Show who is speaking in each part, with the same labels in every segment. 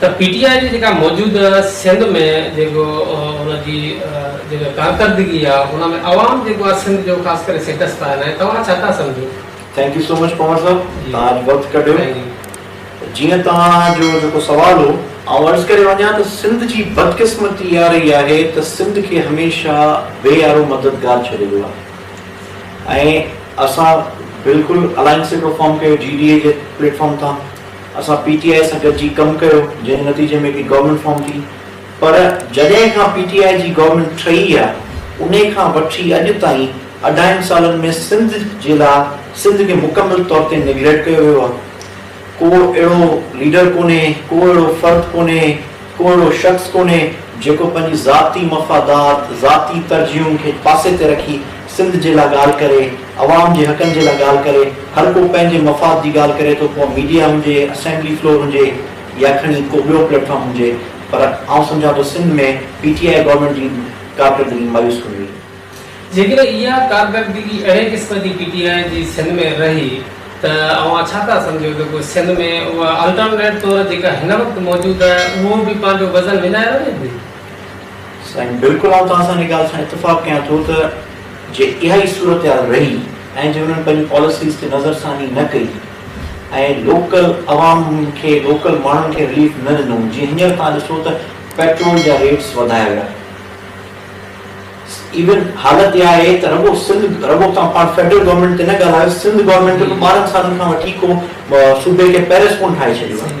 Speaker 1: ته P T I جي جيڪا موجوده سنڌ ۾ جيڪو ان جي جيڪا ڪارڪردگي آ ان ۾ عوام جيڪو آ سنڌ جو خاص ڪري سٽيٽس ٿا هلائين توهان ڇا ٿا سمجهو؟ Thank you so much
Speaker 2: Panhwar صاحب توهان اڄ وقت ڪڍيو جيئن توهان جو جيڪو سوال هو آئون عرض ڪري وڃان ته سنڌ جي بدقسمتي اها رهي آهي ته سنڌ کي هميشه بي آرو مددگار ڇڏي ويو آهي ۽ اسان بلڪل الائنس هڪڙو فارم ڪيو جي ڊي اي جي پليٽ فارم تان اسان پي ٽي آء سان گڏجي ڪم ڪيو جنهن جي نتيجي ۾ هڪڙي گورنمينٽ فارم ٿي پر جڏهن کان پي ٽي آء جي گورنمينٽ ٺهي آ انهي کان وٺي اڄ تائين اڍائين سالن ۾ سنڌ جي لا سنڌ کي مڪمل طور تي نيگليٽ ڪيو ويو آ ڪو اهڙو ليڊر ڪونهي ڪو اهڙو فرد ڪونهي ڪو اهڙو شخص ڪونهي جيڪو پنهنجي ذاتي مفادات ذاتي ترجيحن کي پاسي تي رکي سنڌ جي لا ڳالهه ڪري، عوام جي حقن جي لا ڳالهه ڪري، هر ڪو پنهنجي مفاد جي ڳالهه ڪري ٿو ڪو ميڊيا هجي، اسيمبلي فلور هجي يا کڻي ڪو ٻيو پليٽ فارم هجي پر آئون سمجهان ٿو Sindh ۾ P T I government جي ڪارڪردگي مايوس ڪن هئي. جيڪڏهن
Speaker 1: اها ڪارڪردگي اهڙي قسم جي پي ٽي آئي جي سنڌ ۾ رهي ته اوهان ڇا ٿا سمجهو ته پوء سنڌ ۾ اها الٽرنيٽ طور جيڪا هن وقت موجود آهي اهو به پنهنجو وزن وڃائي وڃي ٿي؟ سائين
Speaker 2: بلڪل آئون توهان سان ان ڳالهه سان اتفاق ڪيان ٿو ته جي اها ئي صورتحال رهي ۽ جي انهن پنهنجي پاليسيز تي نظرثاني نه ڪئي ۽ لوڪل عوام کي لوڪل ماڻهن کي رليف نه ڏنو جيئن هينئر توهان ڏسو ته پيٽرول جا ريٽس وڌايا ويا ايون حالت اها آهي ته رڳو سنڌ رڳو توهان پاڻ فيڊرل گورنمينٽ تي نه ڳالهايو سنڌ گورنمينٽ به ٻارهن سالن کان وٺي ڪو صوبي کي پيرس ڪون ٺاهي ڇڏيو آهي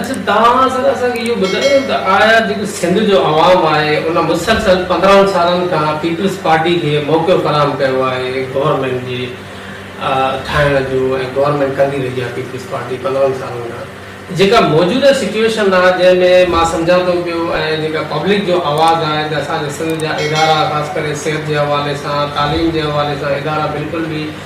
Speaker 2: اڇا
Speaker 1: توهان ذرا اسان کي اهو ٻڌايو ته آيا جيڪو سنڌ جو عوام آهي ان مسلسل پندرهن سالن کان پيپلز پارٽي کي موقعو فراهم ڪيو آهي گورنمينٽ جي ٺاهڻ جو ۽ گورنمينٽ ڪندي رهي آهي پيپلز پارٽي پندرهن سالن کان جيڪا موجوده سچويشن آهي جنهن ۾ مان سمجهان ٿو پيو ۽ جيڪا پبلڪ جو آواز آهي ته اسان جي سنڌ جا ادارا خاص ڪري صحت جي حوالي سان تعليم جي حوالي سان ادارا بلڪل به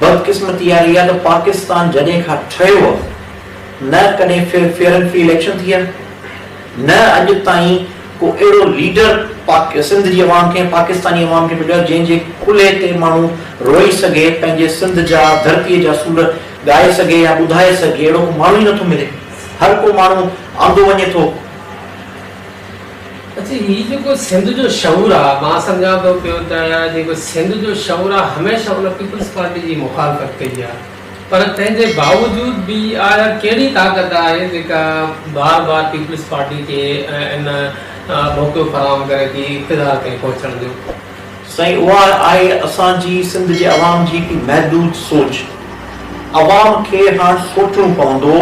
Speaker 2: بدقسمتي اها رهي آهي ته پاڪستان جڏهن کان ٺهيو آهي نه ڪڏهن فيئر اينڊ فري اليڪشن ٿي آهي نه اڄ تائين ڪو اهڙو ليڊر سنڌ جي عوام کي پاڪستاني عوام کي مليو آهي جنهن جي ڪلهي تي ماڻهو روئي سگهي پنهنجي سنڌ جا ڌرتي جا سور ڳائي سگهي يا ٻڌائي سگهي اهڙو ڪو ماڻهو ئي نٿو ملي هر ڪو ماڻهو آندو وڃي ٿو.
Speaker 1: اچي هي جيڪو سنڌ جو شعور آ مان سمجهان ٿو پيو ته جيڪو سنڌ جو شعور آ هميشه ان پيپلز پارٽي جي مخالفت ڪئي آ پر تنهن جي باوجود به آيا ڪهڙي طاقت آهي جيڪا بار بار پيپلز پارٽي کي ان موقعو فراهم ڪري ٿي اقتدار تائين پهچڻ جو. سائين اها
Speaker 2: آهي اسان جي سنڌ جي عوام جي محدود سوچ عوام کي هاڻ سوچڻو پوندو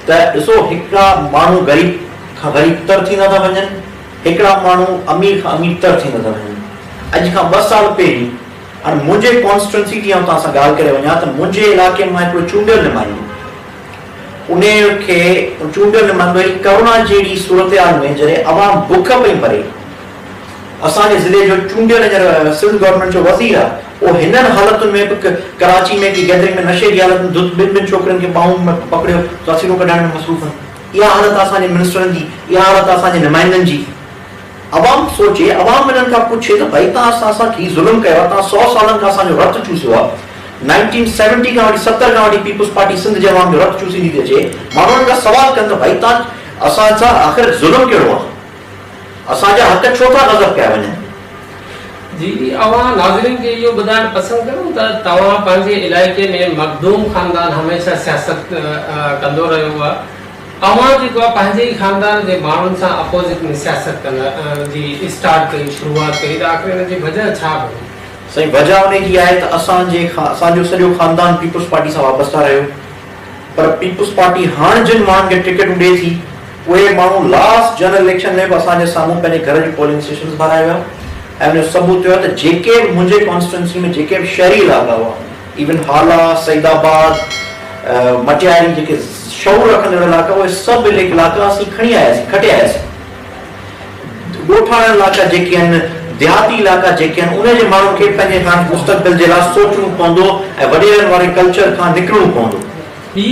Speaker 2: ته ڏسو هڪڙا ماڻهو غريب کان غريب تر ٿيندا ٿا وڃن، هڪڙا ماڻهو امير کان امير تر ٿيندا ٿا وڃن. اڄ کان ٻه سال پهرين هاڻ منهنجي ڪانسٽيٽوئنسي جي آئون توهان سان ڳالهه ڪري وڃان ته منهنجي علائقي مان هڪڙو چونڊيل نمائندو انهي کي چونڊيل نمائندو هي ڪرونا جهڙي صورتحال ۾ جڏهن عوام بک پئي مري اسان جي ضلعي جو چونڊيل هينئر سول گورنمينٽ جو وزير آ اهو هنن حالتن ۾ به ڪراچي ۾ ڪي گيدرنگ ۾ نشي جي حالت ۾ ڌت ٻن ٻن ڇوڪرين کي ٻانهون ۾ پڪڙيو تاثيرون ڪڍائڻ ۾ مصروف آهن اها حالت آ اسان جي منسٽرن جي اها حالت آ اسان جي نمائندن جي. عوام سوچي عوام انهن کان پڇي ته ڀائي توهان اسان سان هي ظلم ڪيو آ توهان سؤ سالن کان اسان جو رت چوسيو آ نائنٽين سيونٽي کان وٺي ستر کان وٺي پيپلز پارٽي سنڌ جي عوام جو رت چوسيندي ٿي اچي ماڻهو انهن کان سوال ڪن ته ڀائي توهان اسان سان آخر ظلم ڪهڙو آ. اسان جا حق ڇو ٿا غصب ڪيا وڃن؟ جي
Speaker 1: اوهان ناظرين کي اهو ٻڌائڻ پسند ڪندو ته توهان پنهنجي علائقي ۾ مخدوم خاندان هميشه سياست ڪندو رهيو آهي اوهان جيڪو آهي پنهنجي ئي خاندان جي ماڻهن سان اپوزٽ ۾ سياست ڪن جي اسٽارٽ ڪئي شروعات ڪئي ته آخر ان جي وجه ڇا هئي؟ سائين وجه انهي
Speaker 2: جي آهي ته اسان جي اسان جو سڄو خاندان پيپلز پارٽي سان وابسته رهيو. پر پيپلز پارٽي هاڻ جن ماڻهن کي ٽڪيٽون ڏئي ٿي اهي ماڻهو لاسٽ جنرل اليڪشن ۾ به اسان جي سامهون پنهنجي گهر جون پولنگ اسٽيشنز ڀرائي ويا ۽ ان جو ثبوت اهو آهي ته جيڪي به منهنجي ڪانسٽيٽوئنسي ۾ جيڪي به شهري علائقا هئا ايون هالا، سعيد آباد، مٽياري جيڪي شعور رکندڙ علائقا اهي سڀ علائقا اسين کڻي آياسين، کٽي آياسين. ڳوٺاڻن علائقا جيڪي آهن، ديهاتي علائقا جيڪي آهن، انهن جي ماڻهن کي پنهنجي هاڻ مستقبل جي لاء سوچڻو پوندو ۽ وڏيرن واري ڪلچر کان نڪرڻو پوندو. هي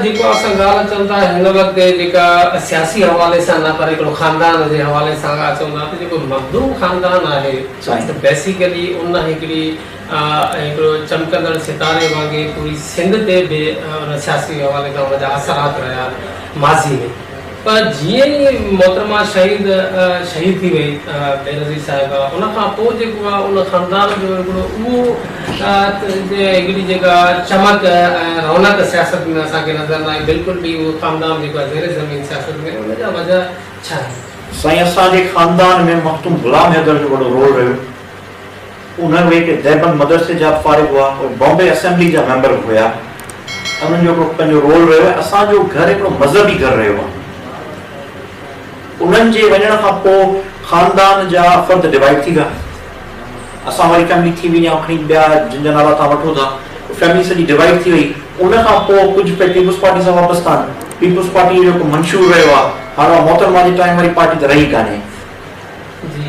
Speaker 1: جيڪو اسان ڳالهه اچون ٿا هن وقت جيڪا سياسي حوالي سان نه پر هڪڙو خاندان جي حوالي سان اگر اچون ٿا ته جيڪو مخدوم خاندان آهي ته بيسيڪلي ان هڪڙي هڪڙو چمڪندڙ ستاري وانگي پوري سنڌ تي به ان سياسي حوالي کان ان جا اثرات رهيا ماضي ۾. پر جيئن ئي محترمه شهيد شهيد ٿي وئي بينظير صاحبه ان کان پوء جيڪو آ ان خاندان جو هڪڙو اهو هڪڙي جيڪا چمڪ ۽ رونق سياست ۾ اسان کي نظر نه آئي بلڪل به اهو خاندان جيڪو آ زير زمين سياست ۾ ان جا وجه ڇا آهن؟ سائين اسان جي
Speaker 2: خاندان ۾ مخدوم غلام حيدر جو وڏو رول رهيو. اهي اهي ڪي ديوبند مدرسي جا به فارغ هئا، اهي بامبي اسيمبلي جا ميمبر به هيا ۽ انهن جو هڪڙو پنهنجو رول رهيو آهي. اسان جو گهر هڪڙو مذهبي گهر رهيو آهي. انهن جي وڃڻ کان پوء خاندان جا فرد ڊوائيڊ ٿي ويا. اسان واري فيملي ٿي وئي يا کڻي ٻيا جن جا نالا توهان وٺو ٿا، اهي فيملي سڄي ڊوائيڊ ٿي وئي. ان کان پوء ڪجهه پئي پيپلز پارٽي سان وابسته آهن. پيپلز پارٽي جو جيڪو منشور رهيو آهي، هاڻ اها محترمه جي ٽائيم واري پارٽي ته رهي ڪانهي. جي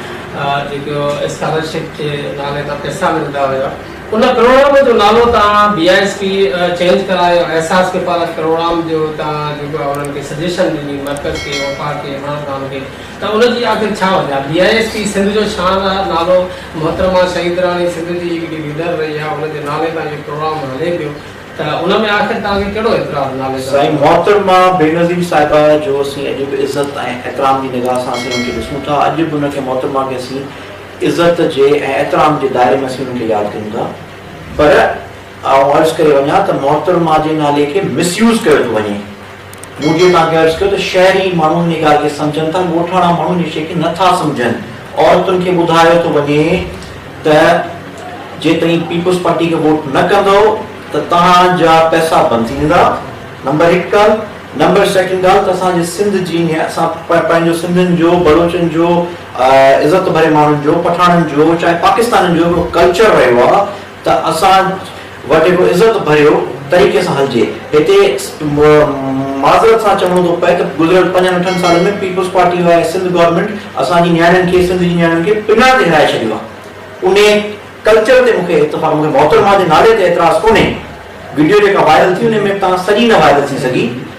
Speaker 1: جيڪو اسڪالرشپ جي نالي تان پئسا ملندا هيا ان ڪروڙام جو نالو تان B I S P change ڪرايو احساس کي پارت ڪروڙام جو تان جيڪو انهن کي سجيشن ڏني مرڪز کي وفاق کي عمران خان کي ته ان جي آخر ڇا وجهه B I S P Sindh جو شان آ نالو محترمه شهيد راڻي سنڌ جي هڪڙي ليڊر رهي آ ان جي نالي تان اهو ڪروڙام هلي پيو ته ان ۾ آخر توهان کي
Speaker 2: ڪهڙو اعتراض نالي ته. سائين محترمه بينظير صاحبه جو اسين اڄ به عزت ۽ احترام جي نگاهه سان اسين ان کي ڏسون ٿا اڄ به ان کي محترمه کي اسين عزت جي ۽ احترام جي دائري ۾ اسين ان کي ياد ڪيون ٿا پر آئون عرض ڪري وڃان ته محترمه جي نالي کي مس يوز ڪيو ٿو وڃي. مون جيئن توهان کي عرض ڪيو ته شهري ماڻهو ان ڳالهه کي سمجهن ٿا، ڳوٺاڻا ماڻهو ان شيء کي نه ٿا سمجهن. عورتن کي ٻڌايو ٿو وڃي ته جيتوڻيڪ پيپلز پارٽي کي ووٽ نه ڪندؤ ته توهان جا پئسا بند ٿي ويندا، نمبر هڪ ڳالهه. نمبر سيڪنڊ ڳالهه ته اسان جي سنڌ جي ۽ اسان پنهنجو سنڌين جو، بلوچن جو، عزت ڀري ماڻهن جو، پٺاڻن جو، چاهي پاڪستانين جو هڪڙو ڪلچر رهيو آهي ته اسان وٽ هڪڙو عزت ڀريو طريقي سان هلجي. هتي معذرت سان چوڻو ٿو پئي ته گذريل پنجن اٺن سالن ۾ پيپلز پارٽي آء سنڌ گورنمينٽ اسان جي نياڻين کي سنڌ جي نياڻين کي پڃاڻ تي هرائي ڇڏيو آهي. انهي ڪلچر تي مون کي اتفاق مون کي محترمه جي نالي تي اعتراض ڪونهي. وڊيو جيڪا وائرل ٿي انهي ۾ به توهان سڄي نه وائرل ٿي سگهي.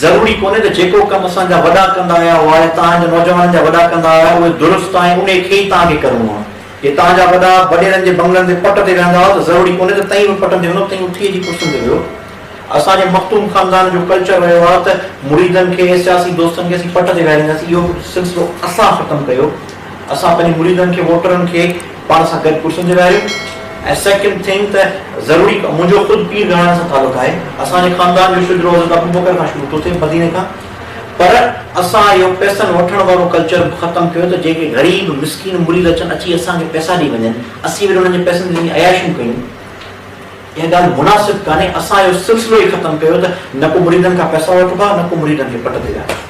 Speaker 2: ضروري ڪونهي ته جيڪو ڪم اسان جا وڏا ڪندا آيا هئا يا توهان جا نوجوانن جا وڏا ڪندا آيا اهي درست آهن انهي کي ئي توهان کي ڪرڻو آهي. جي توهان جا وڏا وڏيرن جي بنگلن تي پٽ تي ويهندا هئا ته ضروري ڪونهي ته تئين به پٽن تي ويهندو تئين اٿيء جي ڪرسين تي ويهو. اسان جي مخدوم خاندان جو ڪلچر رهيو آهي ته مريدن کي ۽ سياسي دوستن کي اسين پٽ تي ويهارينداسين اهو سلسلو اسان ختم ڪيو. اسان پنهنجي مريدن کي ووٽرن کي پاڻ سان گڏ ڪرسين تي ويهاريون ۽ سيڪنڊ ٿنگ ته ضروري منهنجو خود پير گهراڻي سان تعلق آهي اسان جي خاندان جو شجرو حضرت ابوبڪر کان شروع ٿو ٿئي مديني کان پر اسان اهو پيسن وٺڻ وارو ڪلچر به ختم ڪيو ته جيڪي غريب مسڪين مريد اچن اچي اسان کي پيسا ڏئي وڃن اسين وري انهن جي پيسن تي وڃي عياشيون ڪيون اها ڳالهه مناسب ڪانهي اسان اهو سلسلو ئي ختم ڪيو ته نه ڪو مريدن کان پيسا وٺبا نه ڪو مريدن کي پٽ تي ويهاربو.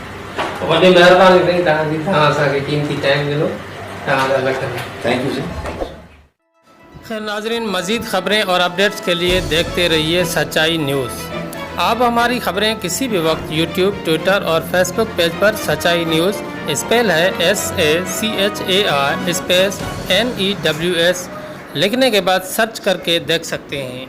Speaker 2: وڏي
Speaker 1: مهرباني سائين توهان جي توهان
Speaker 2: اسان کي قيمتي ٽائيم ڏنو توهان جا لک لک ٿينڪ يو سائين ٿينڪ
Speaker 1: يو سائين. خير ناظرين مزيد خبرين اور اپڈيٽس کے لئے ديکھتے رھيئے سچائي نيوز آپ ھماري خبرين کسي بھي وقت يوٽيوب ٽوئيٽر اور فيس بوڪ پيج پر سچائي نيوز اسپيل ھي S A C H A I space N E W S لکھني کے بعد سرچ کر کے ديکھ سکتے ھين